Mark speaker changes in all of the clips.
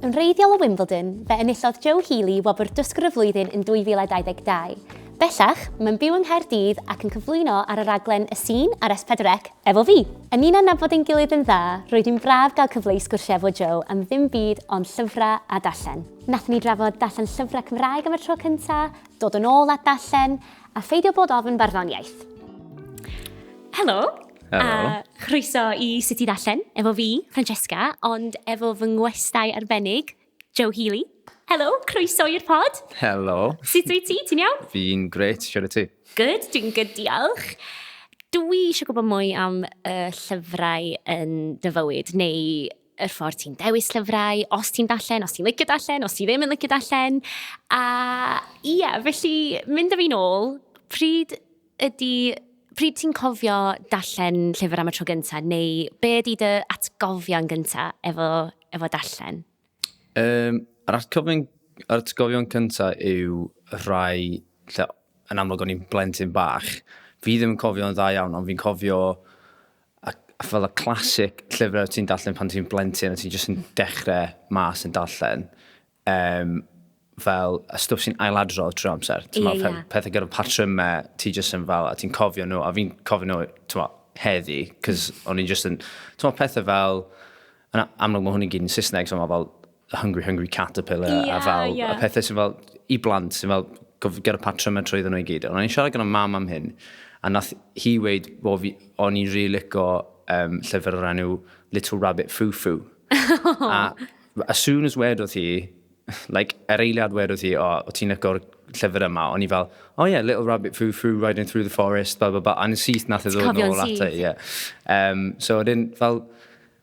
Speaker 1: Yn wreiddiol o Wimbledon, fe enillodd Joe Healy wobr Dysgwr y Flwyddyn yn 2022. Bellach, mae'n byw yng Nghaerdydd ac yn cyflwyno ar y raglen Y Sîn ar S4C efo fi! Yn ni'n adnabod ein gilydd yn dda, roedd hi'n braf gael cyfle i sgwrsio efo Joe am ddim byd ond llyfrau a darllen. Nathon ni drafod darllen llyfrau Cymraeg am y tro cynta, dod yn ôl at ddarllen, a pheidio bod ofn barddoniaeth. Helo! Helo. A
Speaker 2: chroeso i
Speaker 1: Sut i Ddarllen, efo fi, Francesca, ond efo fy ngwestai arbennig, Joe Healy. Helo, croeso i'r pod. Helo. Sut
Speaker 2: wyt ti? Ti'n
Speaker 1: iawn? Fi'n gret, siarad
Speaker 2: ti? Good, dwi'n good,
Speaker 1: diolch. Dwi eisiau gwybod mwy am y llyfrau yn dy fywyd, neu yr ffordd ti'n dewis llyfrau, os ti'n darllen, os ti'n licio darllen, os ti ddim yn licio darllen. A ia, felly, mynd â fi'n ôl, pryd Ydy, pryd ti'n cofio darllen llyfr am y tro gyntaf, neu be ydy dy atgofion gyntaf efo, efo darllen? Um,
Speaker 2: yr atgofion, yr atgofion cyntaf yw rhai lle yn amlwg o'n i'n blentyn bach. Fi ddim yn cofio'n dda iawn, ond fi'n cofio a, a fel y clasic llyfrau ti'n darllen pan ti'n blentyn a ti'n jyst yn dechrau mas yn darllen. um, fel y stwff sy'n ailadrodd trwy amser. Ie, yeah, yeah. Pethau gyda'r patrymau, ti jyst yn fel, a ti'n cofio nhw, a fi'n cofio nhw, ti'n heddi, cos mm. o'n i'n jyst yn, ti'n pethau fel, yn amlwg mae hwn i'n gyd yn Saesneg, so mae fel Hungry Hungry Caterpillar, yeah, a fel, yeah. a pethau sy'n fel, i blant, sy'n fel, gyda'r patrymau trwy ddyn nhw i gyd. Ond o'n i'n siarad gyda mam am hyn, a nath hi weid, o'n i'n rilico um, llyfr o'r enw Little Rabbit Foo Foo. a As soon as wedodd hi, like, yr eiliad wedodd hi, o, o ti'n licor llyfr yma, o'n i fel, oh yeah, Little Rabbit Foo Foo, Riding Through the Forest, blah, blah, blah, a'n syth nath e ddod nôl ata i, ie. Um, so, dyn, fel,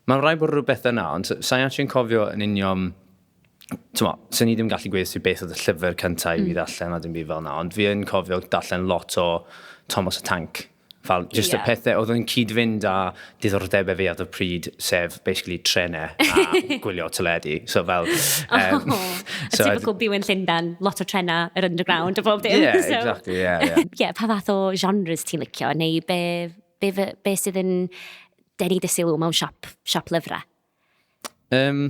Speaker 2: mae'n rhaid bod rhywbeth yna, ond sa'n actually'n cofio yn union, tyma, sy'n ni ddim gallu gweithio sy'n beth oedd y llyfr cyntaf mm. i fi mm. ddarllen a dim byd fel yna, ond fi yn cofio darllen lot o Thomas y Tank, Fel, just yeah. y pethau oedd yn cyd-fynd â diddordebau fi at y pryd, sef basically trenau a gwylio teledu. So fel... Um, oh,
Speaker 1: so, a typical byw yn Llundan, lot o trenau, yr underground a bob dim. Yeah, so. exactly, yeah, yeah.
Speaker 2: yeah, pa fath
Speaker 1: o genres ti'n licio, neu be, be, be, be sydd yn denu dy sylw mewn siop, siop lyfrau? Um,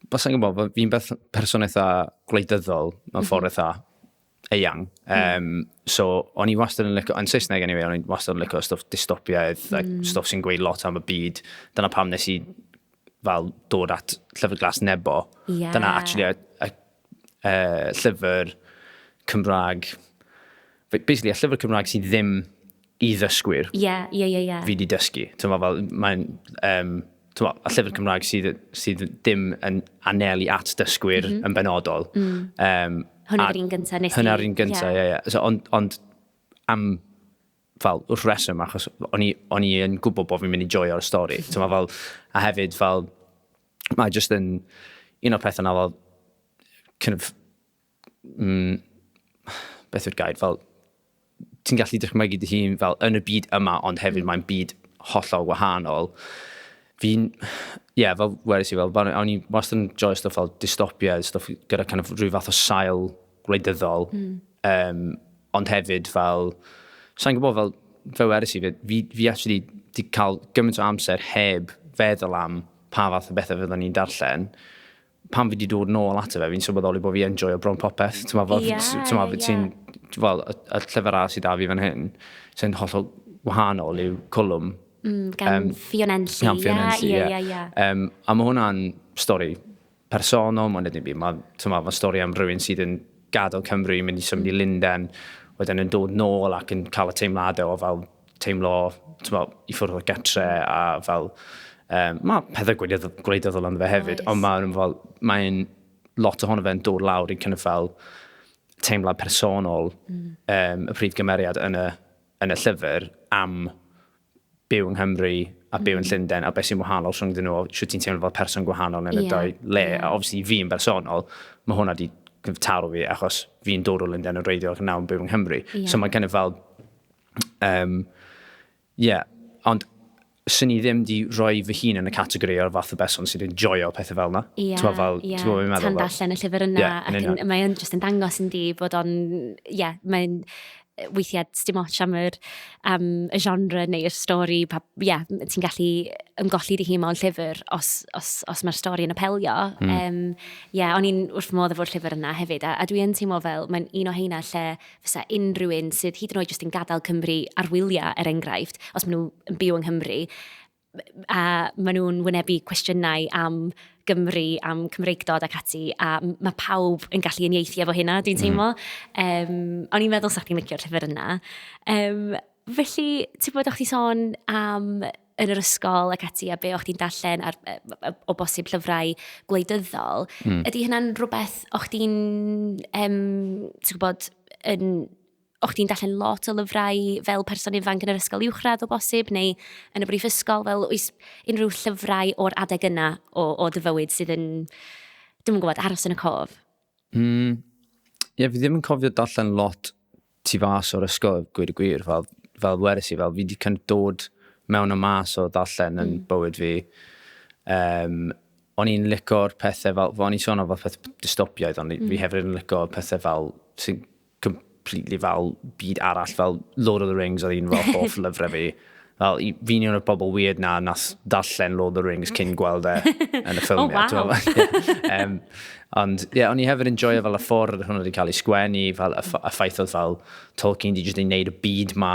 Speaker 2: Wel, sa'n gwybod, fi'n beth person eitha gwleidyddol mewn ffordd mhm. eitha eang. Um, so, o'n i wastad yn lyco, yn Saesneg anyway, o'n i wastad yn lyco stwff dystopiaidd, mm. like, stwff sy'n gweud lot am y byd. Dyna pam nes i fel dod at llyfr glas nebo. Yeah. Dyna actually a, a, a, llyfr Cymraeg, basically a llyfr Cymraeg sydd ddim i ddysgwyr. Ie, ie, ie, ie. Fi di dysgu. Ti'n fel, mae'n, um, ti'n fel, a llyfr Cymraeg sydd, sydd dim yn anelu at dysgwyr mm -hmm. yn benodol. Mm. Um,
Speaker 1: hwna'r un gyntaf nes i. Hwna'r un gyntaf, ie, yeah. ie. Yeah, yeah.
Speaker 2: So, ond, ond am fel wrth reswm, achos o'n i, on i yn gwybod bod fi'n mynd i joio'r stori. Ti'n fel, a hefyd fel, mae jyst yn un o'r pethau na fel, kind of, mm, beth yw'r gair, fel, ti'n gallu dychmygu dy hun fel yn y byd yma, ond hefyd mm. mae'n byd hollol wahanol. Fi'n, ie, yeah, fel wedi si, fel, o'n i'n wastad yn joio stwff fel dystopia, stwff gyda kind of rhyw fath o sail gwleidyddol, mm. um, ond hefyd fel, sa'n gwybod fel, fe wedi si, fi, fi actually di cael gymaint o amser heb feddwl am pa fath o bethau fyddwn ni'n darllen, pan fi wedi dod nôl ato fe, fi'n sylweddoli bod fi yn joio bron popeth. Ti'n meddwl, yeah, ti'n meddwl, yeah. ti'n, fel, y, y llyfr arall sydd da fi fan hyn, sy'n hollol wahanol yw Cwlwm. Mm, gan um,
Speaker 1: Fion Enlli. Gan Fion Enlli, ie. Yeah, yeah, yeah. um,
Speaker 2: a mae hwnna'n stori personol, mae'n edrych fi. Mae'n ma, ma stori am rhywun sydd yn gadael Cymru, mynd i symud i mm. Linden, wedyn yn dod nôl ac yn cael y teimladau o fel teimlo, mo, i ffwrdd o getre a fel, um, mae pethau gwleidyddol ond fe hefyd, nice. ond mae'n fel, mae'n lot ohono fe'n dod lawr i'n cynnydd fel teimlad personol mm. um, y prif gymeriad yn y, yn y llyfr am byw yng Nghymru a byw yn mm. Llundain a beth sy'n wahanol rhwng dyn nhw, sio ti'n teimlo fel person gwahanol yn y yeah. dau le. Yeah. A obviously fi yn bersonol, mae hwnna wedi taro fi achos fi'n dod o Lundain yn reiddiol ac nawr yn byw yng Nghymru. Yeah. So mae'n kind of fel Yym, ie, ond 'swn i ddim 'di rhoi fy hun yn y categori o'r fath o berson sy'n enjoio pethe fel 'na. Ie, T'mo' fel, ie, t'mo'
Speaker 1: be' fi'n meddwl? tan darllen y llyfr yna, Ie, yn union. ac yn mae o'n jyst yn dangos yn di bod o'n, ie, mae'n yy weithiau sdim ots am yr am y genre neu'r stori pa- ie m- ti'n gallu ymgolli dy hun mewn llyfr os os os mae'r stori yn apelio. Hmm. Yym ie, o'n i'n wrth fy modd efo'r llyfr yna hefyd a a dwi yn teimlo fel mae'n un o heina lle fysa unrhyw un sydd hyd yn oed jyst yn gadael Cymru ar wyliau, er enghraifft, os maen nhw yn byw yng Nghymru, a maen nhw'n wynebu cwestiynau am Gymru, am Cymreigdod ac ati, a mae pawb yn gallu unieithu efo hynna, dwi'n mhm. teimlo. Mm. Um, o'n i'n meddwl sa'ch chi'n licio'r llyfr yna. Um, felly, ti'n bod o'ch ti sôn am yn yr ysgol ac ati, a be o'ch ti'n darllen ar, o bosib llyfrau gwleidyddol, mm. ydy hynna'n rhywbeth o'ch ti'n, um, ti'n gwybod, yn o'ch ti'n darllen lot o lyfrau fel person ifanc yn yr ysgol uwchradd o bosib, neu yn y brif ysgol, fel oes unrhyw llyfrau o'r adeg yna o, o dy fywyd sydd yn, dim yn gwybod, aros yn y cof? Mm,
Speaker 2: ie, fi ddim yn cofio darllen lot tu fas o'r ysgol, gwir y gwir, fel, fel weres i, fel fi wedi kind of dod mewn y mas o darllen yn mm. bywyd fi. Um, o'n i'n licor pethau fel, o'n i'n sôn o fel pethau dystopiaidd, ond mm. fi hefyd yn licor pethau fel sy'n completely fel byd arall, fel Lord of the Rings oedd un fel hoff lyfrau fi. Fel, fi'n un o'r bobl weird na nath darllen Lord of the Rings cyn gweld e yn y ffilm. oh, wow. yeah. um, ond, ie, yeah, o'n i hefyd yn joio fel y ffordd hwnnw wedi cael ei sgwennu, fel y, y ffaith oedd fel Tolkien wedi jyst ei wneud y byd ma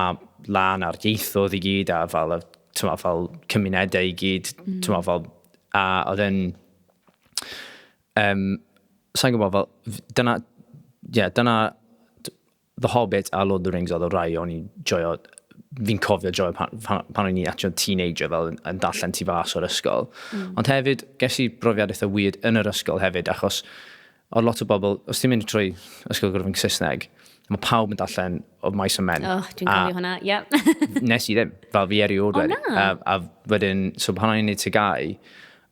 Speaker 2: lan a'r ieithoedd i gyd, a fel, tyma, fel cymunedau i gyd, mm. tyma, fel, a oedd e'n Um, Sa'n gwybod, fel, dyna, ie, yeah, dyna The Hobbit a Lord of the Rings oedd y rai o'n i'n joio, fi'n cofio joio pan, pan, pan o'n i'n atio teenager fel yn, yn darllen ti fas o'r ysgol. Mm. Ond hefyd, ges i brofiad eitha weird yn yr ysgol hefyd, achos o lot o bobl, os ti'n mynd trwy ysgol gwrdd yn Saesneg, mae pawb yn darllen o maes o men. O, oh, dwi'n cofio hwnna, ie.
Speaker 1: Yeah. nes i ddim, fel
Speaker 2: fi erioed wedi. O na? A, a wedyn, so pan o'n i'n neud tygau,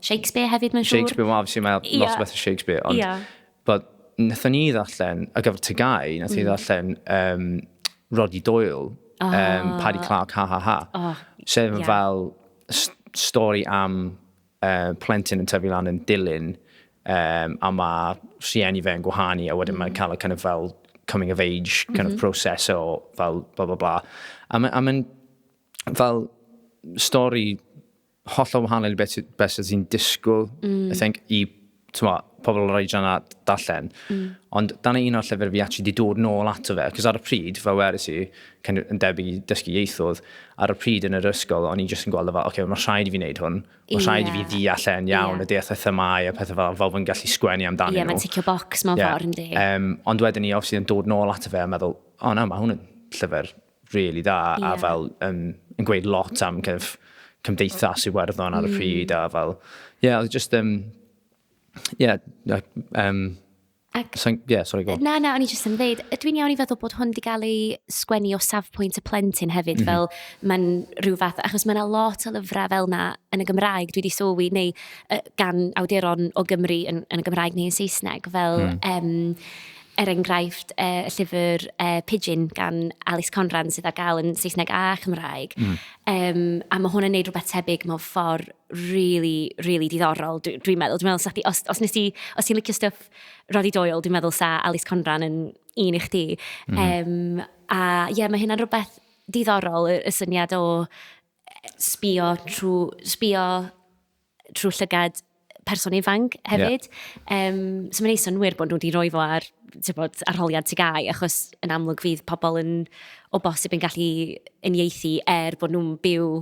Speaker 2: Shakespeare
Speaker 1: hefyd, mae'n siŵr. Shakespeare, wel, obviously, mae yeah. lot o
Speaker 2: bethau Shakespeare, ond... Yeah. But, nethon ni ddarllen, y gyfer Tygau, nethon ni mm. ddarllen um, Roddy Doyle, oh. um, Paddy Clark, ha ha ha. Oh, sef yeah. fel stori am uh, plentyn yn tyfu lan yn dilyn, um, a mae rhieni fe yn gwahanu, a wedyn mm. mae'n cael y kind of fel coming of age kind mm -hmm. of mm-hmm. process o fel bla bla bla. A mae'n ma fel stori hollol wahanol i beth, beth sydd ti'n disgwyl, mm. I think, i twa, pobl o'r oedran a darllen. Mm. Ond dan un o'r llyfr fi actually di dod nôl ato fe, cos ar y pryd, fel weris i, kind of, yn debyg i dysgu ieithoedd, ar y pryd yn yr ysgol, o'n i jyst yn gweld fel, oce, okay, mae rhaid i fi wneud hwn, mae rhaid yeah. i fi ddeall e'n iawn, yeah. y deall y themau a pethau fel, fel fod gallu sgwennu amdano yeah, nhw. Ie, mae'n ticio box mewn yeah.
Speaker 1: ffordd, yndi. Um, ond wedyn ni,
Speaker 2: obviously, yn dod nôl ato fe a meddwl, o oh, na, mae hwn yn llyfr rili dda yeah. a fel um, yn gweud lot am kind of, cymdeithas Iwerddon ar y mm. pryd a fel, ie, yeah, just, um, yeah, um, Ac... So, yeah, sorry, go. Na, na, o'n i jyst yn dweud,
Speaker 1: dwi'n iawn i feddwl bod hwn wedi cael ei sgwennu o safpwynt y plentyn hefyd, mm -hmm. fel mae'n rhyw fath, achos mae'n lot o lyfrau fel na yn y Gymraeg, dwi wedi sylwi, neu uh, gan awduron o Gymru yn, yn y Gymraeg neu yn Saesneg, fel... Mm. Um, er enghraifft, y llyfr uh, Pidgin gan Alice Conran sydd ar gael yn Saesneg a Chymraeg. Mm. Um, a mae hwn yn neud rhywbeth tebyg mewn ffordd really, really diddorol, dwi'n dwi meddwl. Dwi'n meddwl, sa os, os, nes ti, os ti'n licio stuff roddi doel, dwi'n meddwl sa Alice Conran yn un i chdi. Mm. Um, a ie, yeah, mae hynna'n rhywbeth diddorol, y, y syniad o sbio trwy, sbio trwy llygad person ifanc hefyd. Yeah. Um, so mae'n ei synwyr bod nhw wedi rhoi fo ar bod, arholiad ti gau, achos yn amlwg fydd pobl yn o bosib yn gallu uniaethu er bod nhw'n byw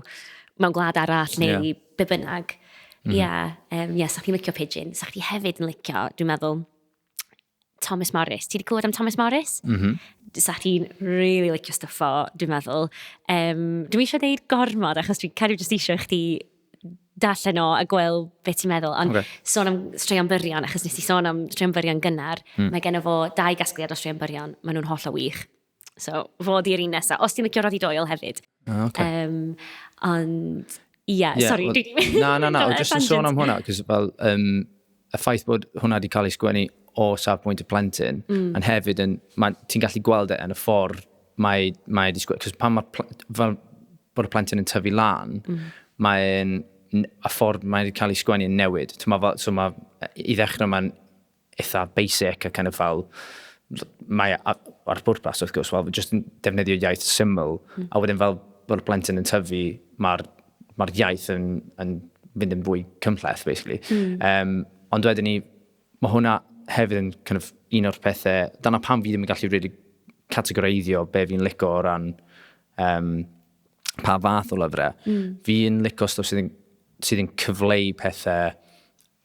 Speaker 1: mewn gwlad arall neu yeah. be bynnag. Mhm. Ie, yeah. um, yeah, sa'ch chi'n licio pigeon, sa'ch chi hefyd yn licio, dwi'n meddwl, Thomas Morris. Ti wedi clywed am Thomas Morris? Mm -hmm. Sa ti'n really licio stuff o, dwi'n meddwl. Um, dwi'n eisiau gwneud gormod, achos dwi'n cario jyst eisiau chdi darllen o a gweld beth ti'n meddwl. Ond okay. sôn am straeon byrion, achos nes i sôn am straeon byrion gynnar, mm. mae gen o fo dau gasgliad o straeon byrion, maen nhw'n holl o wych. So, fo di'r un nesaf. Os ti'n licio Roddy Doyle hefyd. Ah, okay. Um,
Speaker 2: ond,
Speaker 1: ie, yeah, yeah, sori. Well, na, na, na,
Speaker 2: jyst yn sôn am hwnna, cos fel, um, y ffaith bod hwnna wedi cael ei sgwennu o safbwynt y plentyn, mm. ond hefyd, ti'n gallu gweld e yn y ffordd mae, mae wedi sgwennu, cos pan mae, fel bod y plentyn yn tyfu lan, mm. mae'n, a ffordd mae wedi cael ei sgwennu yn newid. Mae, so mae, i ddechrau mae'n eitha basic a kind of fel mae ar bwrpas wrth gwrs, wel, jyst yn defnyddio iaith syml, mm. a wedyn fel bod y plentyn yn tyfu, mae'r ma iaith yn, yn fynd yn fwy cymhleth, basically. Mm. Um, ond wedyn ni, mae hwnna hefyd yn kind of, un o'r pethau, dyna pam fi ddim yn gallu rili really categoreiddio be fi'n licio o ran um, pa fath o lyfrau. Mm. Fi'n licio stwff sydd yn, sydd yn cyfleu pethau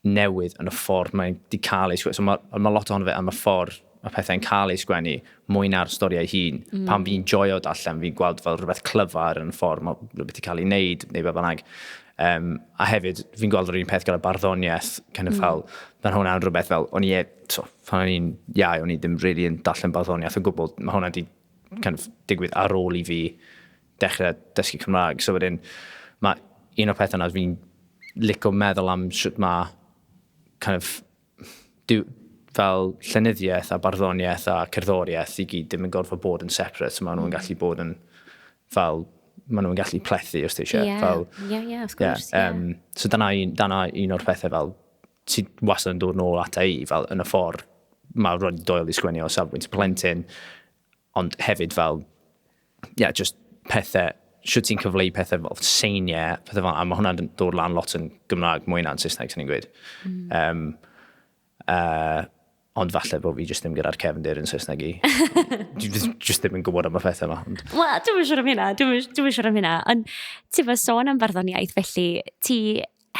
Speaker 2: newid yn y ffordd mae'n di cael ei sgwennu. So mae, mae lot ohono fe am y ffordd mae pethau'n cael ei sgwennu mwy na'r stori ei hun. Mm. Pan fi'n joio darllen, fi'n gweld fel rhywbeth clyfar yn y ffordd mae rhywbeth i cael ei wneud neu beth bynnag. Um, a hefyd, fi'n gweld yr un peth gyda barddoniaeth, kind of mm. fel, mae hwnna'n rhywbeth fel, o'n i, e, so, pan o'n i'n iau, o'n i ddim really yn darllen barddoniaeth o gwbl, mae hwnna wedi kind of, digwydd ar ôl i fi dechrau dysgu Cymraeg. So wedyn, mae un o'r pethau yna, fi'n licio meddwl am sut mae kind of, diw, fel llenyddiaeth a barddoniaeth a cerddoriaeth i gyd ddim yn gorfod bod yn separate. So maen nhw'n mm. gallu bod yn fel maen nhw'n gallu plethu os ti eisiau. Yeah. Fel, yeah, yeah, of course. Yeah,
Speaker 1: um, yeah. So dyna
Speaker 2: un, dyna un o'r pethau fel sy'n wastad yn dod nôl ata i fel yn y ffordd mae rhoi doel i sgwennu o safbwynt plentyn Ond hefyd fel, ie, yeah, just pethau, siwt ti'n cyfleu pethau fel seiniau, pethau fel, a mae hwnna'n dod lan lot yn Gymraeg, mwy na'n Saesneg, sy'n ni'n gweud. Mm. Um, uh, ond falle bod fi jyst ddim gyda'r cefndir yn Saesneg i. jyst ddim yn gwybod am y pethau yma. Ond... Wel, dwi'n siŵr am hynna,
Speaker 1: dwi'n siŵr am hynna. Ond ti'n fawr sôn am farddoniaeth, felly ti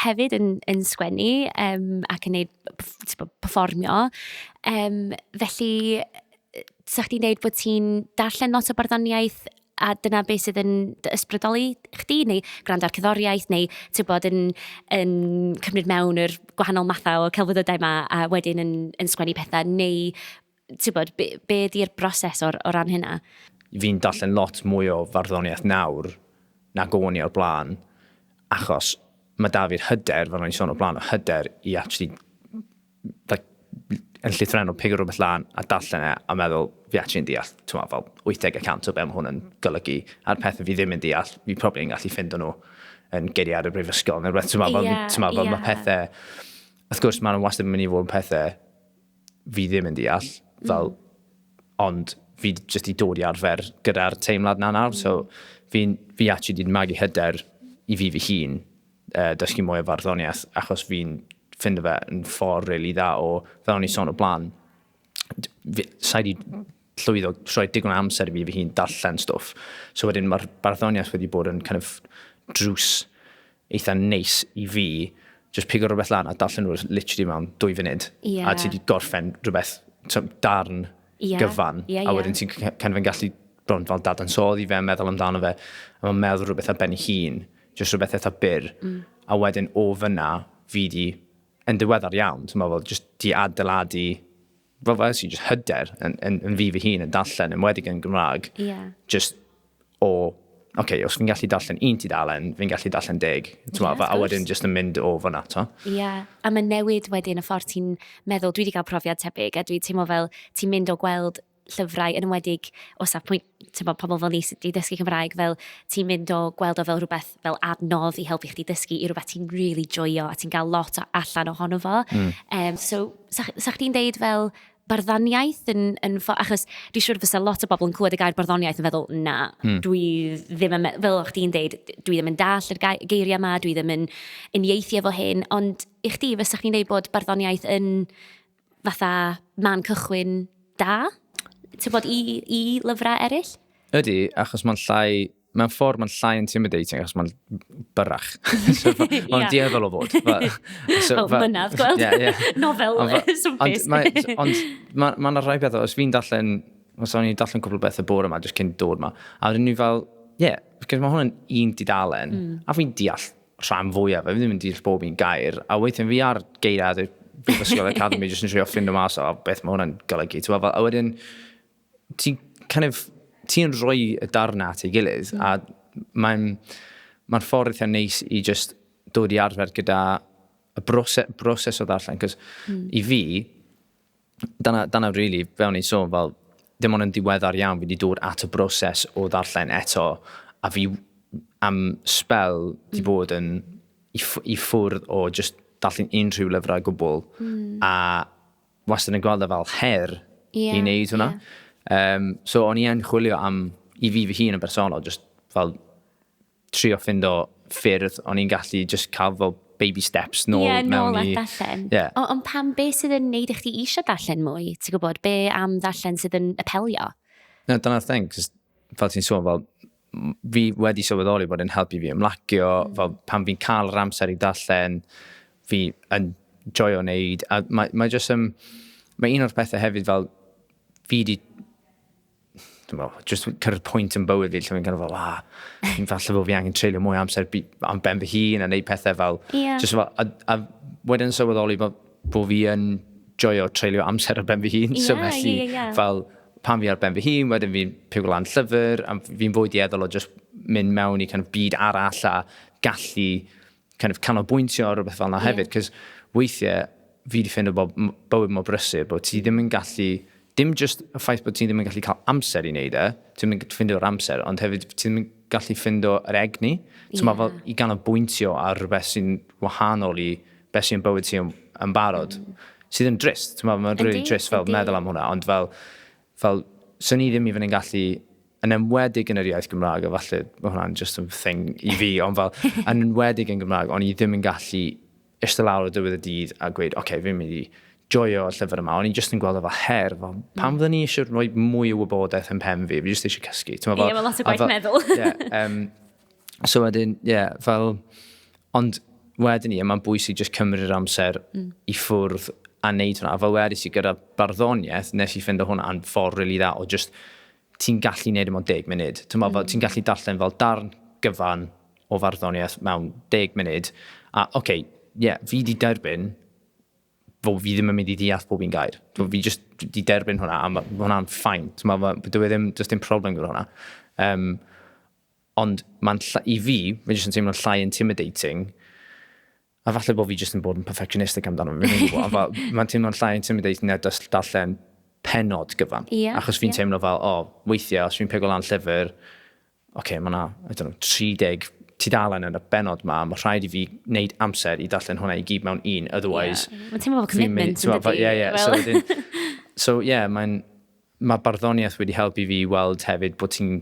Speaker 1: hefyd yn yn sgwennu yym ac yn wneud pef- tibod perfformio, yym felly 'sa chdi'n deud bod ti'n darllen lot o barddoniaeth a dyna be sydd yn dy ysbrydoli chdi, neu gwrando ar cerddoriaeth, neu tibod yn yn cymryd mewn yr gwahanol mathau o celfyddydau 'ma a wedyn yn yn sgwennu pethe, neu... ti'n bod, be, be di'r broses o'r, o ran hynna? Fi'n darllen
Speaker 2: lot mwy o farddoniaeth nawr na o'n i o'r blaen, achos mae da fi'r hyder, fel o'n i'n sôn o'r blaen, o hyder i actually like, yn llythrenol pig o rhywbeth lan a darllen e a meddwl fi actually'n deall, ti'n fel 80% o be mae hwn yn golygu, a'r pethau fi ddim yn deall, fi probably yn gallu ffind nhw yn geiriau ar y brifysgol, neu rhywbeth, ti'n meddwl, yeah, yeah. mae pethau, wrth gwrs mae'n wastad yn mynd i fod yn pethau fi ddim yn deall, fel, mm. ond fi jyst i dod i arfer gyda'r teimlad na nawr, mm. so fi, fi actually wedi magu hyder i fi fy hun uh, dysgu mwy o farddoniaeth, achos fi'n ffind fe yn ffordd really dda o, fel o'n i son o blaen, sa'i di llwyddo troi digon amser i fi fy hun darllen stwff. So wedyn mae'r barddoniaeth wedi bod yn kind of drws eitha neis i fi jyst pigo rhywbeth lan a darllen nhw literally mewn dwy funud. Yeah. A ti di gorffen rhywbeth, darn yeah. gyfan. Yeah, yeah. A wedyn ti'n kind of gallu bron fel dadansoddi fe, meddwl amdano fe. A mae'n meddwl rhywbeth ar ben ei hun, jyst rhywbeth eitha byr. Mm. A wedyn o fyna, fi di, yn diweddar iawn, ti'n meddwl, jyst di adeiladu fel fel si, just hyder yn, yn, yn fi fy hun yn darllen, yn wedi yn Gymraeg. Yeah. Just o, oce, okay, os fi'n gallu darllen un ti dalen, fi'n gallu darllen deg. Yeah, a wedyn just yn mynd o fyna, to. Ie, yeah. a mae'n
Speaker 1: newid wedyn y ffordd ti'n meddwl, dwi wedi cael profiad tebyg, a dwi'n teimlo fel ti'n mynd o gweld llyfrau yn ymwedig o safbwynt tibod, pobl fel ni sydd wedi dysgu Cymraeg, fel ti'n mynd o gweld o fel rhywbeth fel adnodd i helpu chdi dysgu i rhywbeth ti'n really joio a ti'n cael lot o allan ohono fo. Mm. Um, so, sa, sa chdi'n deud fel barddaniaeth yn, yn fo, achos dwi'n siŵr fysa lot o bobl yn clywed y gair barddoniaeth yn feddwl, na, mm. dwi ddim yn, fel o'ch ti'n deud, dwi ddim yn dall yr geiriau yma, dwi ddim yn uniaethu efo hyn, ond i chdi fysa chdi'n deud bod barddoniaeth yn fatha man cychwyn da, ti'n bod, i, i lyfrau eraill? Ydy, achos
Speaker 2: mae'n llai, mae'n ffordd mae'n llai intimidating, achos mae'n byrrach. so, mae'n yeah. dieddol o fod. But, so, oh, but,
Speaker 1: mynaf, gweld, yeah, yeah. nofel swmpus. Ond
Speaker 2: mae'n ma, ma rhai bethau, os fi'n darllen, os o'n i'n darllen cwbl beth y bore yma, jyst cyn dod yma, a wedyn ni fel, ie, yeah, mae hwn yn un didalen, mm. a fi'n deall rhan fwyaf, fe ddim yn deall bob un gair, a weithio'n fi ar geiriad y Brifysgol Academy, jyst yn trio ffind o mas o beth mae hwnna'n golygu. A wedyn, ti'n kind of, ti rhoi y darnau at ei gilydd, mm. a mae'n ma ffordd eitha neis i just dod i arfer gyda y broses, broses o ddarllen, cos mm. i fi, dyna, dyna really, fel ni'n sôn, fel, dim ond yn diweddar iawn fi wedi dod at y broses o ddarllen eto, a fi am spel wedi mm. bod yn i, i ffwrdd o just darllen unrhyw lyfrau gwbl, mm. a wastad yn gweld e fel her yeah, i wneud hwnna. Yeah. Um, so o'n i yn chwilio am, i fi fy hun yn bersonol, just fel trio ffindo ffyrdd o'n i'n gallu just cael fel baby steps nôl yeah, mewn nôl i... Ie, darllen.
Speaker 1: Yeah. Ond on pam, be sydd yn neud i chdi eisiau darllen mwy? Ti'n gwybod, be am ddarllen sydd yn apelio? No, dyna'r
Speaker 2: thing, cos fel ti'n sôn, fel, fi wedi sylweddoli bod yn helpu fi ymlacio, mm. fel pan fi'n cael yr amser i darllen, fi yn joio wneud, a mae, mae jyst yn... Um, mae un o'r pethau hefyd fel, fi wedi dwi'n meddwl, just cyrraedd pwynt yn bywyd fi lle fi'n kind of fel, ah, fi'n falle bod fi angen treulio mwy amser am ben fy hun a neud pethau fel, yeah. just fel, a, a wedyn sylweddoli bod, bod fi yn joio treulio amser ar ben fy hun, yeah, so felly yeah, yeah. fel, pan fi ar ben fy hun, wedyn fi'n piw lan llyfr, a fi'n fwy dieddol o just mynd mewn i kind of byd arall a gallu kind of canolbwyntio ar rhywbeth fel yna hefyd, yeah. cos weithiau fi wedi ffeindio bod bywyd mor brysur bod ti ddim yn gallu, dim just y ffaith bod ti ddim yn gallu cael amser i wneud e, ti ddim yn gallu ffindio'r amser, ond hefyd ti ddim yn gallu ffindo yr egni, yeah. mae fel i ganolbwyntio ar rhywbeth sy'n wahanol i beth sy'n bywyd ti yn, yn barod, mm. sydd yn drist, ti'n meddwl, mae'n rili really drist fel meddwl am hwnna, ond fel, fel, sy'n ni ddim i fynd yn gallu yn enwedig yn yr iaith Gymraeg, a falle mae hwnna'n just yn thing i fi, ond fel, yn enwedig yn Gymraeg, ond i ddim yn gallu eistedd lawr o dywydd y dydd a gweud, oce, okay, fi'n mynd i joio llyfr yma, ond i'n just yn gweld o fel her, fel, mm. pam fydden ni eisiau rhoi mwy o wybodaeth yn pen fi, fi just eisiau cysgu. Ie, yeah, mae lot o gwaith
Speaker 1: meddwl. yeah, um, so
Speaker 2: wedyn, ie, yeah, fel, ond wedyn ni, mae'n bwysig just cymryd amser mm. i ffwrdd a wneud hwnna. A fel wedi si gyda barddoniaeth, nes i ffind o hwnna yn ffordd really dda o just ti'n gallu neud e mewn deg munud. Ti'n meddwl fel, ti'n gallu darllen fel darn gyfan o farddoniaeth mewn deg munud, a oce, okay, ie, yeah, fi di derbyn fo fi ddim yn mynd i ddeall pob un gair. So, fi just di derbyn hwnna, a mae hwnna'n ffain. So, mae, dwi e ddim, just dim problem gyda hwnna. Um, ond mae'n, i fi, mae'n just yn teimlo'n llai intimidating a falle bod fi jyst yn bod yn perfectionistic amdano fe, fi'n gwybod, fel, mae'n teimlo'n llai intimidating na just darllen penod gyfan. Yeah, Achos fi'n yeah. teimlo fel, o, oh, weithiau, os fi'n pego lan llyfr, oce, okay, mae yna, I don't know, 30 tudalen yn y benod ma, mae rhaid i fi wneud amser i darllen hwnna i gyd mewn un, otherwise... Yeah. Mae'n teimlo fel commitment
Speaker 1: yn dydi. Yeah, yeah, well. so, so
Speaker 2: yeah, mae'n, mae barddoniaeth wedi helpu fi weld hefyd bod ti'n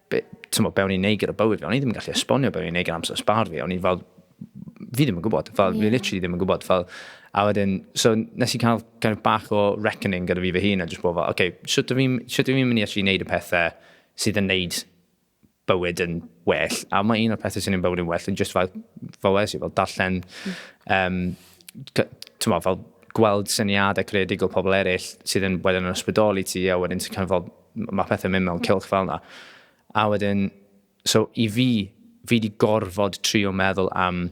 Speaker 2: be, tymo, be o'n i'n neud gyda bywyd fi, o'n i ddim yn gallu esbonio be o'n i'n neud gyda amser sbar fi, o'n i'n fel, fi ddim yn gwybod, fel, yeah. fi literally ddim yn gwybod, fel, a wedyn, so nes i cael kind of bach o reckoning gyda fi fy hun, a jyst bod fel, oce, okay, sut ydw i'n mynd i actually neud y pethau sydd yn neud bywyd yn well, a mae un o'r pethau sy'n ei bywyd yn well yn just fel, fel wes i, fel darllen, um, tyma, fel gweld syniadau creadigol pobl eraill sydd yn wedyn yn ysbrydoli ti, a wedyn ti'n cael fel Mae pethau'n mynd mewn cilch fel yna. A wedyn, so i fi, fi wedi gorfod trio meddwl am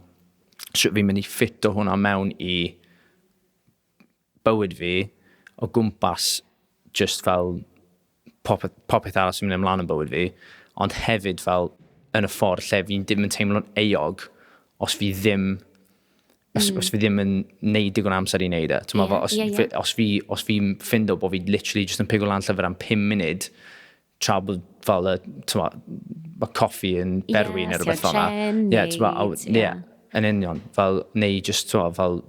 Speaker 2: sut fi'n mynd i ffit o hwnna mewn i bywyd fi o gwmpas just fel popeth, popeth arall sy'n mynd ymlaen yn bywyd fi, ond hefyd fel yn y ffordd lle fi'n ddim yn teimlo'n eog os fi ddim os, mm. os fi ddim yn neud digon amser i neud e. Yeah, fo, os, yeah, yeah. Fi, os, fi, os fi ffind o bod fi literally just yn pigo lan llyfr am 5 munud, tra bod fel y, tyma, mae coffi yn berwi yeah, neu rhywbeth fel yna. Ie, tyma, ie, yn union. Fel, neu just, tyma, fel,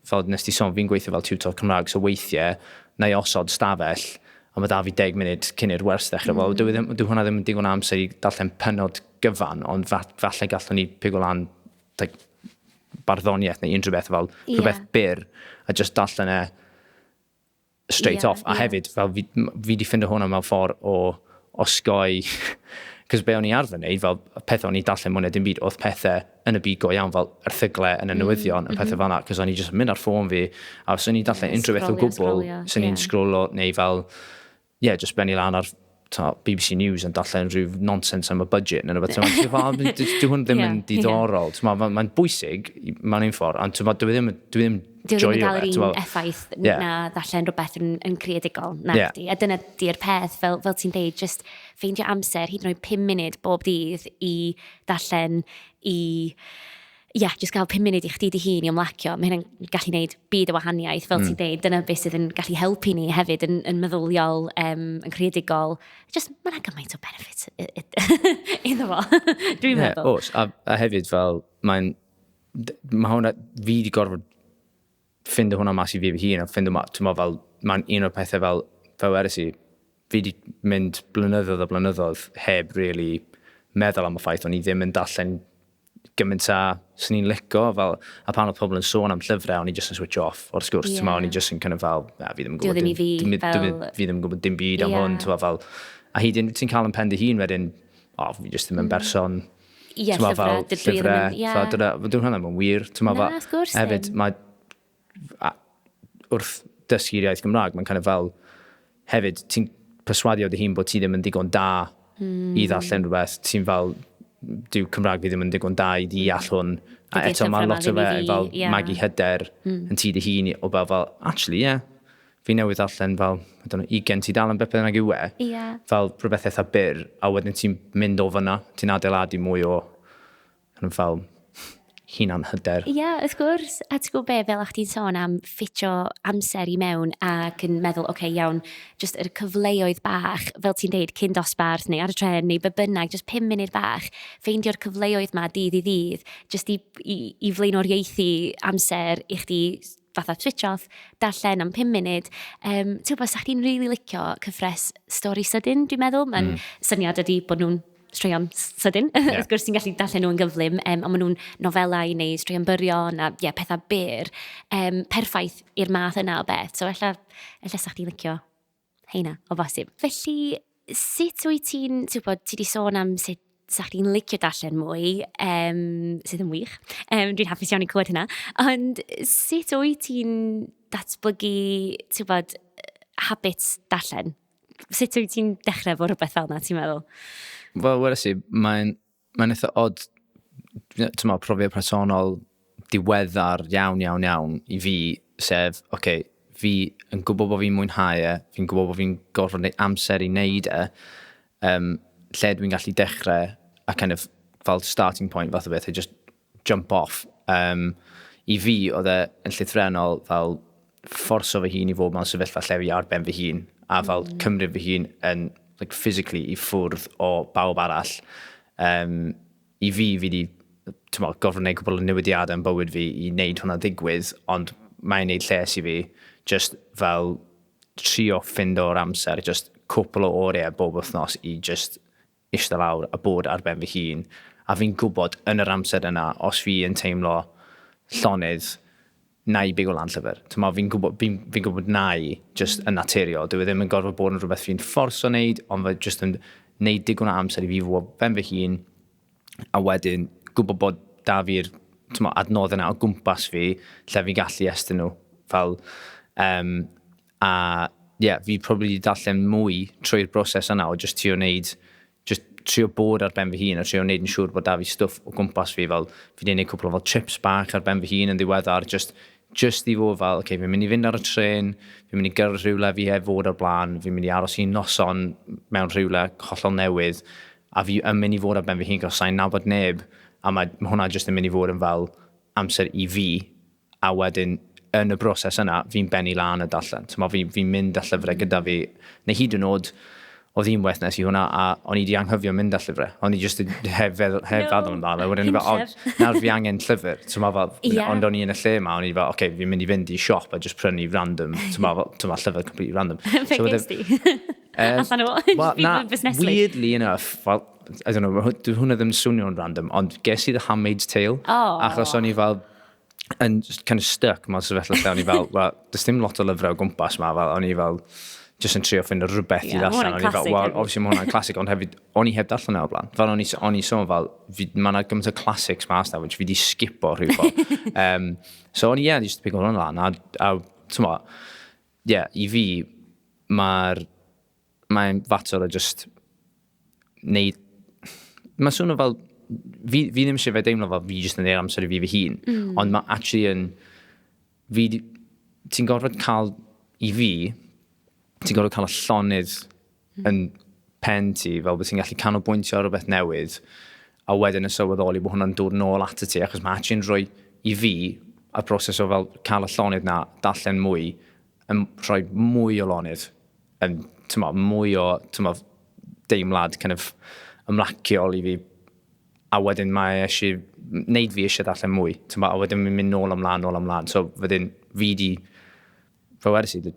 Speaker 2: fel nes ti sôn, fi'n gweithio fel tutor Cymraeg, so weithiau, na i osod stafell, a mae da fi 10 munud cyn i'r wers ddechrau. Mm. Wel, dwi, dwi hwnna ddim yn digon amser i darllen penod gyfan, ond falle gallwn ni pigo lan like, barddoniaeth neu unrhyw beth fel yeah. rhywbeth byr a just darllen e straight yeah, off. A yeah. hefyd, fel fi, fi di ffindo hwnna mewn ffordd o osgoi Cos be o'n i arfer wneud, fel pethau o'n i dallen mwyn dim byd, oedd pethau yn y byd go iawn, fel erthyglau yn y mm, newyddion, mm, y pethau mm. fel yna, cos o'n i jyst yn mynd ar ffôn fi, a os o'n i'n dallen yeah, unrhyw beth o gwbl, yeah, os o'n i'n yeah. sgrolo, neu fel, ie, jyst benni lan ar ta, BBC News yn darllen rhyw nonsens am y budget neu rhywbeth. Ti'n meddwl, dyw hwn ddim yn diddorol. Mae'n bwysig mae'n un ffordd, ond ti'n meddwl, dwi ddim, dwi ddim Dwi ddim yn cael
Speaker 1: yr un effaith yeah. na ddallen rhywbeth yn, yn creadigol. Na, yeah. di. A dyna di'r peth, fel, fel ti'n deud, just ffeindio amser, hyd yn oed 5 munud bob dydd i ddallen, i Ie, jyst cael pum munud i chdi dy hun i ymlacio, mae hynna'n gallu gwneud byd o wahaniaeth, fel ti'n dweud, dyna beth sydd yn gallu helpu ni hefyd yn, yn meddyliol, um, yn creadigol. Just, mae yna gymaint o benefit iddo fo, dwi'n yeah, meddwl. Os, a, a hefyd
Speaker 2: fel, mae'n, mae hwnna, fi wedi gorfod ffindo hwnna mas i fi fy hun a ffindo ma- t'mo' fel ma'n un o'r pethe fel fel wedes i fi 'di mynd blynyddoedd a blynyddoedd heb rili meddwl am y ffaith o'n i ddim yn darllen gymaint â swn i'n lico fel a pan odd pobl yn sôn am llyfre o'n i jyst yn switch off o'r sgwrs yeah. t'mo' o'n i jyst yn kind of fel na fi ddim yn gwybod dim, fi, dim, fel... dim, fi ddim yn gwybod dim byd yeah. am hwn t'mo' fel a hyd yn ti'n cael yn pen dy hun wedyn o oh, fi jyst ddim yn mm. berson mm Ie, llyfrau, fel,
Speaker 1: llyfrau, yeah. fel,
Speaker 2: dyna, dwi'n hwnna mae'n wir. Na, fel, of course. Hefyd, mae, a, wrth dysgu'r iaith Gymraeg, mae'n kind of fel, hefyd, ti'n perswadio dy hun bod ti ddim yn digon da mm. i ddarllen rhywbeth, ti'n fel, dyw Cymraeg fi ddim yn digon da i ddeall hwn. A eto mae lot o fe fel yeah. magu hyder mm. yn ti dy hun o fel, fel, actually, ie, yeah, fi newydd ddarllen fel, I don't know, ugen tudalen beth bynnag yw e. Ie. Fel rhywbeth eitha byr, a wedyn ti'n mynd o fyna, ti'n adeiladu mwy o kind of fel hunan hyder. Ie, yeah, wrth gwrs.
Speaker 1: A ti'n gwybod be, fel a'ch ti'n sôn am ffitio amser i mewn ac yn meddwl, oce, okay, iawn, jyst yr cyfleoedd bach, fel ti'n deud, cyn dosbarth neu ar y tren neu be bynnag, jyst pum munud bach, ffeindio'r cyfleoedd ma dydd i ddydd, jyst i, i, i flaenoriaethu amser i chdi fatha switch off, darllen am 5 munud. Um, Ti'n gwybod, sa chdi'n rili really licio cyfres stori sydyn, dwi'n meddwl. Mae'n mm. syniad ydy bod nhw'n straeon sydyn, yeah. wrth gwrs ti'n gallu darllen nhw'n gyflym, um, ond maen nhw'n nofelau neu straeon byrion a yeah, pethau byr, um, perffaith i'r math yna o beth. So, ella, ella sa chdi'n licio heina, o bosib. Felly, sut wyt ti'n, ti'n gwybod, ti wedi sôn am sut sa chdi'n licio darllen mwy, um, sydd yn wych. Um, dwi'n hapus iawn i clywed hynna. Ond sut wyt ti'n datblygu, ti'n gwybod, habits darllen? Sut wyt ti'n dechrau bod rhywbeth fel yna, ti'n meddwl? Wel, wedi si,
Speaker 2: mae'n Mae'n eitha odd, ti'n meddwl, profiad personol diweddar iawn, iawn, iawn i fi, sef, oce, okay, fi yn gwybod bod fi'n mwynhau e, fi'n gwybod bod fi'n gorfod neud amser i wneud e, um, lle dwi'n gallu dechrau a kind of fel starting point fath o beth, a just jump off. Um, I fi, oedd e yn llythrenol fel fforso fy hun i fod mewn sefyllfa lle fi ar ben fy hun, a fel mm. cymryd fy hun yn, like, physically i ffwrdd o bawb arall. Um, I fi, fi wedi gofyn gwneud cwbl o newidiadau yn bywyd fi i wneud hwnna ddigwydd, ond mae'n neud lles i fi, just fel trio ffind o'r amser, just cwpl o oriau bob wythnos i just ishte lawr a bod ar ben fy hun, a fi'n gwybod yn yr amser yna os fi yn teimlo llonydd, na i bigo lan llyfr. T'mo' fi'n gwybod fi'n fi'n gwybod na i, jyst yn naturiol. Dyw e ddim yn gorfod bod yn rhywbeth fi'n fforso wneud, ond fe jyst yn wneud digon o amser i fi fod ben fy hun, a wedyn gwybod bod 'da fi'r t'mo' adnoddau 'na o gwmpas fi lle fi'n gallu estyn nhw fel um, A ie, fi probably 'di darllen mwy trwy'r broses yna o jyst trio wneud, jyst trio bod ar ben fy hun a trio wneud yn siŵr bod 'da fi stwff o gwmpas fi, fel fi 'di neud cwpl o fel trips bach ar ben fy hun yn ddiweddar jyst jyst i fod fel ok fi'n mynd i fynd ar y trên, fi'n mynd i gyrraedd rhywle fi heb fod o'r blaen, fi'n mynd i aros i noson mewn rhywle hollol newydd a fi yn mynd i fod ar ben fy hun 'c'os sai'n nabod neb a mae ma' hwnna jyst yn mynd i fod yn fel amser i fi a wedyn yn y broses yna, fi'n bennu lan a darllen. So, fi'n fi mynd â llyfrau gyda fi, neu hyd yn oed, oedd un waith nes i hwnna, a o'n i wedi anghofio mynd â llyfrau. O'n i jyst yn hef, hef no. feddwl amdano. Wedyn o'n i fel, oh, nawr fi angen llyfr. So, fel, yeah. Ond o'n i yn y lle yma, o'n i fel, oce, okay, fi'n mynd i fynd i siop a jyst prynu random. So, fel, so, fel llyfr completely random. Fe so, ges di?
Speaker 1: Allan o, well,
Speaker 2: na, weirdly enough, well, I don't know, hwnna ddim swnio'n random, ond ges i The Handmaid's Tale, oh. achos o'n i fel, yn kind of stuck mewn sefyllfa lle o'n i fel, well, does dim lot o lyfrau o gwmpas ma, fel, o'n i fel, jyst yn trio ffynd o rhywbeth yeah, i ddarllen. O'n i fel, well, obviously mae
Speaker 1: hwnna'n classic, ond
Speaker 2: hefyd, o'n i heb darllen e o blaen. Fel o'n i, on i sôn fel, mae yna gymaint o classics ma asna, which fi di skipo rhyw ffordd. um, so o'n i, yeah, just pigo hwnna'n lan, a, a ti'n mo, yeah, i fi, mae'r mae'n fater o just neud... Mae'n swnio fel... Fi, fi ddim eisiau fe deimlo fel fi jyst yn neud amser i fi fy hun. Mm. Ond mae actually yn... Fi... Ti'n gorfod cael... I fi, ti'n gorfod cael y llonydd mm. yn pen ti, fel bod ti'n gallu canolbwyntio ar rhywbeth newydd, a wedyn yn sylweddoli bod hwnna'n dod nôl at y ti, achos mae actually'n rhoi i fi y broses o fel cael y llonydd na, darllen mwy, yn rhoi mwy o lonydd, yn, tyma, mwy o, tyma, deimlad kind of ymlaciol i fi. A wedyn mae eisiau wneud fi eisiau darllen mwy. Tyma, a wedyn mi'n mynd nôl ymlaen, nôl ymlaen. So wedyn fi di, fe wedi sydd,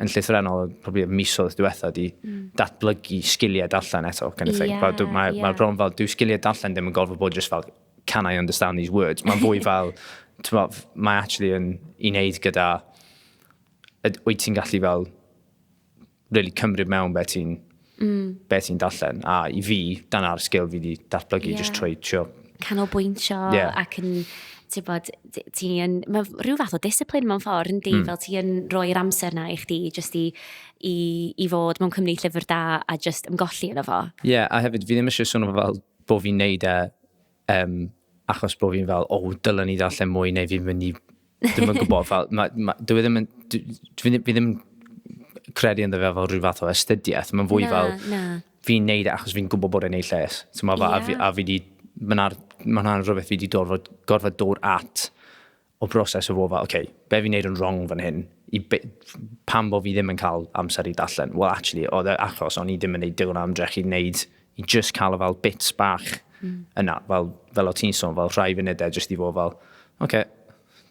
Speaker 2: yn llythrenol, probably mis oedd diwetha di, mm. datblygu sgiliau darllen eto, kind of thing. Yeah, yeah. Mae ma bron fel, dyw sgiliau darllen ddim yn gorfod bod jyst fel can I understand these words? Mae'n fwy fel, mae actually yn i wneud gyda, wyt ti'n gallu fel, really cymryd mewn beth ti'n mm. be ti'n darllen. A i fi, dyna'r sgil fi wedi datblygu, yeah. just trwy trio. Canolbwyntio
Speaker 1: yeah. ac yn ti'n bod, ti yn, mae rhyw fath o disciplin mewn ffordd yn di, mm. fel ti yn rhoi'r amser na i chdi, just i, i, i fod mewn cymryd llyfr da a just ymgolli yno fo. Ie, yeah, a hefyd, fi ddim
Speaker 2: eisiau swnio fel bo fi'n neud e um, achos bo fi'n fel, o, oh, dylen ni ddarllen mwy neu fi'n mynd i... Dwi'n mynd gwybod, fel, ma, ma, dwi e ddim yn... Dwi, fi, fi ddim credu ynddo fe fel rhyw fath o astudiaeth. Mae'n fwy na, fel... Na. Fi'n neud e achos fi'n gwybod bod e'n ei lles. So, ma, yeah. a, fi, a fi di... Mae'n ma rhywbeth fi wedi gorfod, gorfod dod at o broses o fod fel, ok, be fi'n neud yn wrong fan hyn, i be, pam bod fi ddim yn cael amser i darllen? Wel, actually, oedd e achos o'n i ddim yn neud digon o ymdrech i wneud, i just cael y fel bits bach mm. yna, fel, fel o ti'n sôn, fel rhai funudau just i fod fel, ok,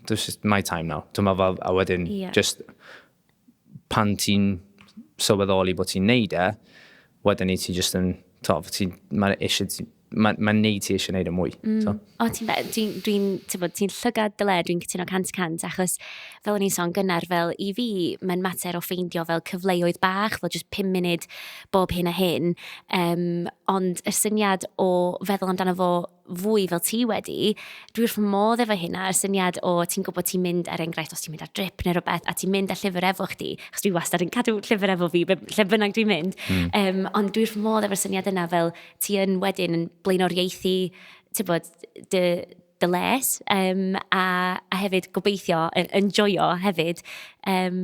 Speaker 2: this is my time now. Dyma fel, a wedyn, yeah. just, pan ti'n sylweddoli bod ti'n neud e, wedyn ni ti jyst yn, to, ti'n, mae'n eisiau, mae'n ma neud ti eisiau neud y e mwy. Mm. So. O, ti'n dweud,
Speaker 1: dwi'n, dwi ti'n bod, ti'n llygad dy le, dwi'n cytuno cant cant, achos fel o'n i'n son gynnar, fel i fi, mae'n mater o ffeindio fel cyfleoedd bach, fel just 5 munud bob hyn a hyn, um, ond y syniad o feddwl amdano fo fwy fel ti wedi, dwi wrth fy modd efo hynna, y syniad o ti'n gwybod ti'n mynd ar er enghraifft os ti'n mynd ar drip neu rhywbeth a ti'n mynd â llyfr efo chdi, achos dwi wastad yn cadw llyfr efo fi lle bynnag dwi'n mynd, mm. um, ond dwi wrth fy modd efo'r syniad yna fel ti yn wedyn yn blaenoriaethu bod, dy, dy les um, a, a hefyd gobeithio, yn enjoyo hefyd um,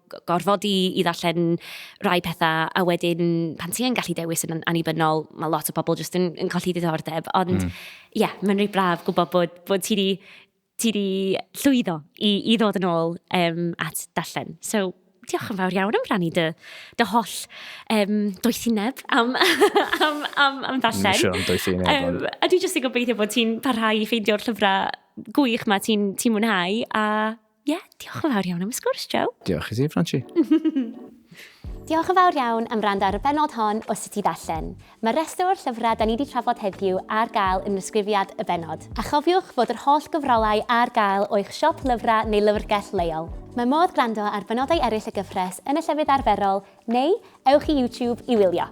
Speaker 1: gorfod i, i ddarllen rhai pethau, a wedyn pan ti'n gallu dewis yn annibynnol, mae lot o bobl jyst yn, yn colli diddordeb. Ond, hmm. ie, mm. yeah, mae'n rhaid braf gwybod bod, bod ti di, ti di llwyddo i, i ddod yn ôl um, at darllen. So, diolch yn fawr iawn am rannu dy, dy holl um, doethineb am, am, am, am ddarllen. Sure, am doethineb.
Speaker 2: Um, a dwi jyst yn gobeithio
Speaker 1: bod ti'n parhau i ffeindio'r llyfrau gwych mae ti'n ti mwynhau a Ie, yeah, diolch yn fawr iawn am y sgwrs, Joe. Diolch i ti, Franci. Diolch yn fawr iawn am rand ar y benod hon o Sut i Ddarllen. Mae'r rhestr o'r llyfrau da ni wedi trafod heddiw ar gael yn ysgrifiad y benod. A chofiwch fod yr holl gyfrolau ar gael o eich siop lyfrau neu lyfrgell leol. Mae modd gwrando ar benodau eraill y gyfres yn y llefydd arferol neu ewch i YouTube i wylio.